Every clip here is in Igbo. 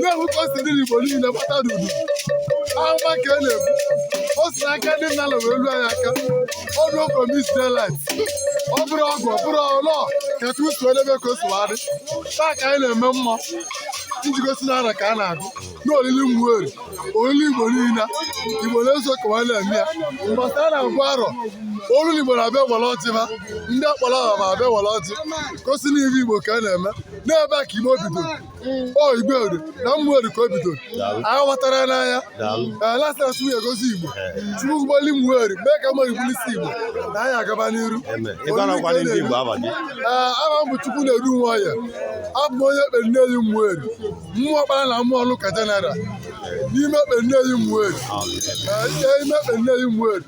na-ewu ka o si dị n'Igbo niile gbata n'udu ahụma ka e na-ebu o si n'aka ndị nna wee luo anyị aka ọ bụrụ promis delit ọ bụrụ ọgwụ ọ bụrụ ọlọ ka chukwu si edebe ka o si wadị taa ka anyị na-eme mmụọ iji gosi na arọ ka a na-agụ na olili Umueri olili igbo niile igbo na-eso ka nwanne eme ya mbọsị a na-agụ arọ olu n'igbo na-abịa were ọjị ha ndị akpọrọ aha ma abịa were ọjị gosi na ihe igbo ka a na-eme n'ebe a ka igbo bido mm. o igbo eri na Umueri ka o bido anyị ghọtara n'anya lasịlasị nwunye gọzie igbo chukwu bulie Umueri mee ka Umueri bụlụ isi igbo na anyị agaba n'iru aha m bụ chukwu na-eru Nwoye abụ m onye Ekpe Nneyi Umueri Umuokpara na Umuoluka jeneral n'ime Ekpe Nneyi Umueri ime Ekpe Nneyi Umueri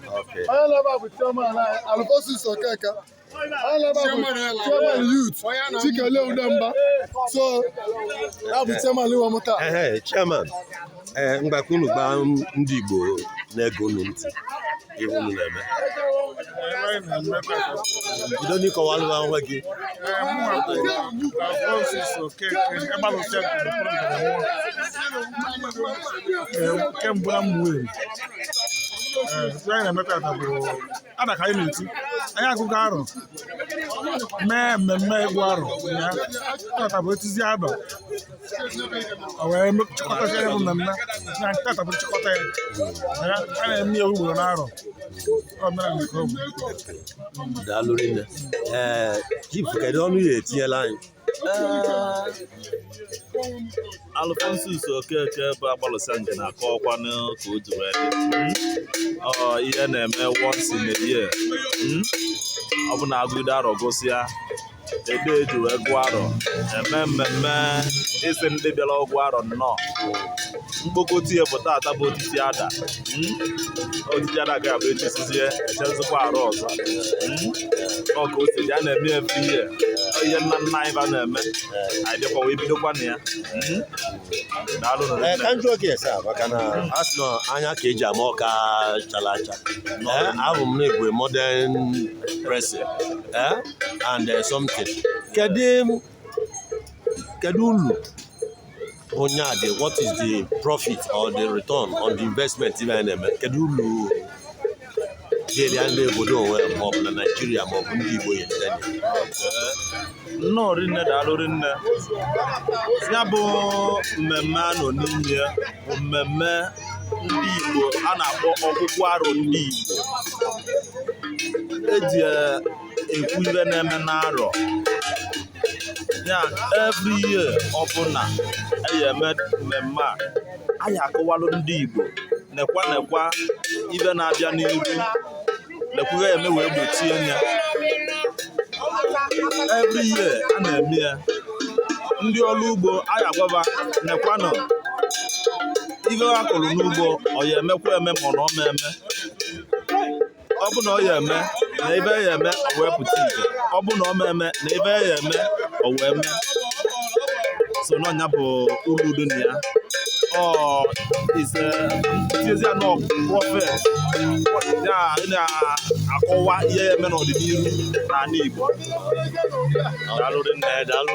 onye nọ ebe a bụ chairman Alfonsus Okeke chairman youth Chikelue Udemba so ya bụ chairman iwe mụta chairman ee eh, mgbakọ unu gbaa ndị Igbo na-ege unu ntị ihe unu na-eme bido n'ịkọwalụ onwe gị nke mbụ na Umueri ada ka anyị na-eti anyị agụgo arọ mee mmemme ịgụ arọ ya tata bụ etizie ada o wee chịkọtacha ya bụ mmemme na tata bụ nchịkọta ya Ya, a na-eme ya ugboro n'arọ omenala nke ọ bụ daalụ rinne ee chief kedu ọnụ ị ya-etinyelu anyị Alfonsus Okeke bụ agbalụsa nke na-akọwakwanụ ka o ji wee hmm? ihe na-eme once in a year hmm? ọ bụ na agụide arọ gụsịa ebe eji wee gụọ arọ eme mmemme ịsị ndị bịara ịgụ arọ nnọọ mkpokọta ya bụ tata bụ otiti ada hmm? otiti ada ga-abụ etisizie echezikwa arọ ọzọ hmm? ọ ka o si dị a na-eme ya every year ihe nna nna anyị ba na-eme anyị dịkwa wee bidokwa na ya hmm? daalụ na eh, ka m jụọ gị ese maka na a sị na anya ka eji ama ọka chara acha eh, abụ m na-ebue modern dressing eh, and something kedu kedu ulu onye a dị what is the profit or the return on the investment ihe anyị na-eme kedu uru ga-eri ya ndị obodo onwe ma ọ bụ na naijiria ma ọ bụ ndị igbo ya nnọọ rinne daalụ rinne ya bụ mmemme a nọ n'ime ya bụ mmemme ndị igbo a na-akpọ ọgụgụ arọ ndị igbo eji ekwu ihe na-eme n'arọ ya every year ọbụla anyị eme mmemme a anyị akọwalụ ndị Igbo nekwa nekwa ife na-abịa n'iru nekwa ife eme wee gbochie ya every year a na-eme ya ndị ọrụ ugbo anyị agwa ba nekwanụ ife ha kụrụ n'ugbo ọ ya emekwa eme ma ọ na ọ ma eme ọ bụ na ọ ya eme na ife ya eme o wee pụta ife ọ bụ na ọ ma eme na ife ya eme o wee mee so n'ọ nya bụ uru dị na ya ọ is a traditional prophet ya na-akọwa ihe ya eme n'ọdịnihu n'ala Igbo daalụ rinne daalụ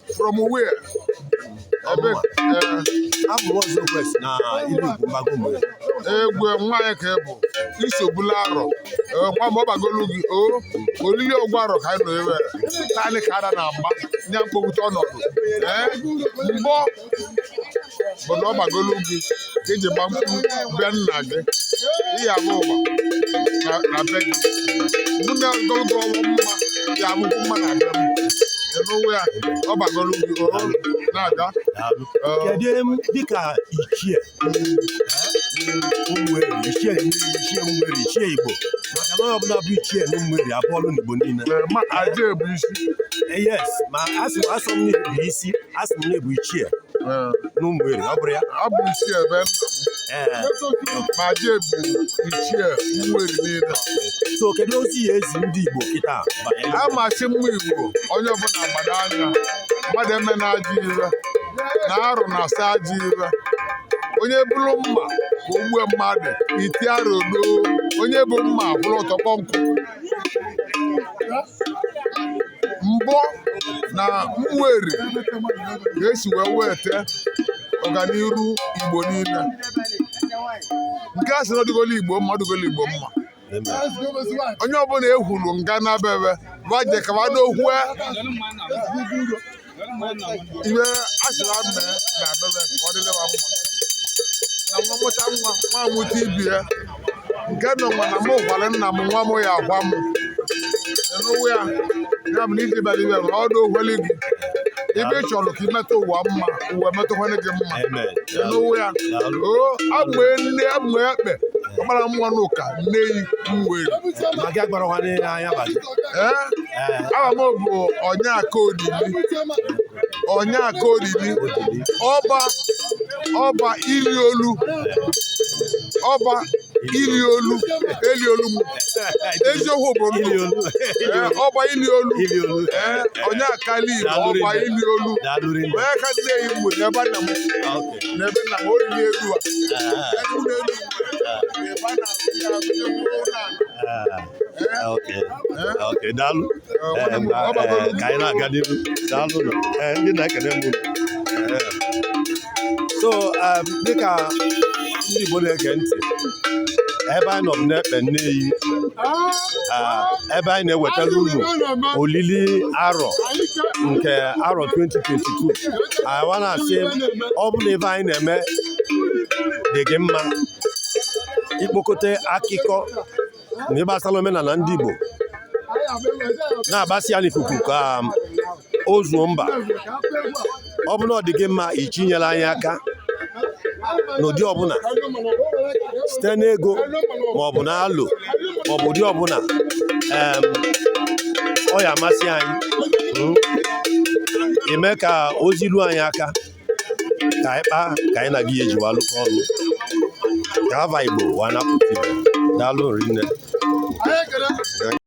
from where? Abụ m ọzọ kwesị na ilu mgbago mwe. Egwe nwaanyị ka ị bụ isogbula arọ nwa ma ọ bagolu gị o olili ọgwụ arọ ka anyị nọ Ụmụeri taanị ka ara na-agba nya mkpọgbute ọnọdụ ee mbọ bụ na ọ bagolu gị ka eji gba mkpu bịa nna gị ihe abụ ụwa na na be gị mụ na ogologo ọnwa mma ya abụkwu mma na be m n'ụwa ya ọ bagolu gị o na-aga Daalụ. Ee. kedu em dịka ichie ụmụeri ichie ụmụeri, ichie ụmụeri ichie igbo maka na onye ọbụla bụ ichie na ụmụeri abụọlụ n'igbo niile Ee, ma aja ebu isi Eh, yes ma asụ asụ m bụ isi a sị m na ebu ichie Ee, n'ụmụeri ọ bụrụ ya ọ bụ ichie ebe nna m Ee. ma je bụ ichie ụmụeri niile so kedu ozi ị ya ezi ndị igbo kịta banyere a machi mma igbo onye ọbụla gbado anya mmadụ emena ajọ ife na arụ na-asọ ajọ ife onye buru mma ka o gbue mmadụ iti arọ doo onye bu mma bụrụ ọtọkpọ nkụ mbọ na ụmụeri ga-esi wee weta ọganiru igbo niile nke a sị na ọ dịgolu igbo mma ọ dịgolu igbo mma onye ọbụla ehuru nga na bebe baje ka ba n'okwu ife a sịrị a mee na abebe ka ọ dịlewa mma na nwa mụta nwa nwa mụta ibe ya nke nọ nwa na mụ gwara nna m nwa m ya agwa m n'ụwa ya ya bụ na iji bara ibe ma ọ dị ogwele gị ife ị chọrọ ka i metụ ụwa mma ụwa emetụkwanye gị mma n'ụwa ya o abụ nne abụ ekpe ọgbara nwa n'ụka Nneyi Ụmụeri maka agbara nwanne ya anya bata aha m bụ onye aka olili onye aka olili ọba ọba ili olu ọba ili olu eli olu m eziokwu bụ ndụ ọba ili olu onye akali na ọba ili olu onye ka Nneyi m bụ n'ebe nna m n'ebe nna m olili elu a elu na elu ebe a na-azụ ya azụ ya mkpụrụ na okay daalụ ka anyị na-aga n'ihu daalụ ndị na-ekele m so um, dịka ndị Igbo na-ege ntị ebe anyị nọ n'Ekpe Nneyi ah, ebe anyị na-ewetara unu olili arọ nke arọ 2022 a wa na-asị ọ bụ na ebe anyị na-eme dị gị mma ikpokọta akụkọ ndị gbasara omenala ndị Igbo na-agbasa ya n'ikuku ka um, o zuo mba ọ bụ na ọ dị gị mma ị chọ inyere anyị aka n'ụdị ọbụla site n'ego ma ọ bụ na alo ma ọ bụ ụdị ọbụla um, ọ ya amasị anyị hmm? ime ka ozi ruo anyị aka ka anyị kpaa ka anyị na gị eji wa alụkọ ọnụ ka ava Igbo wa na-apụta daalụ rinne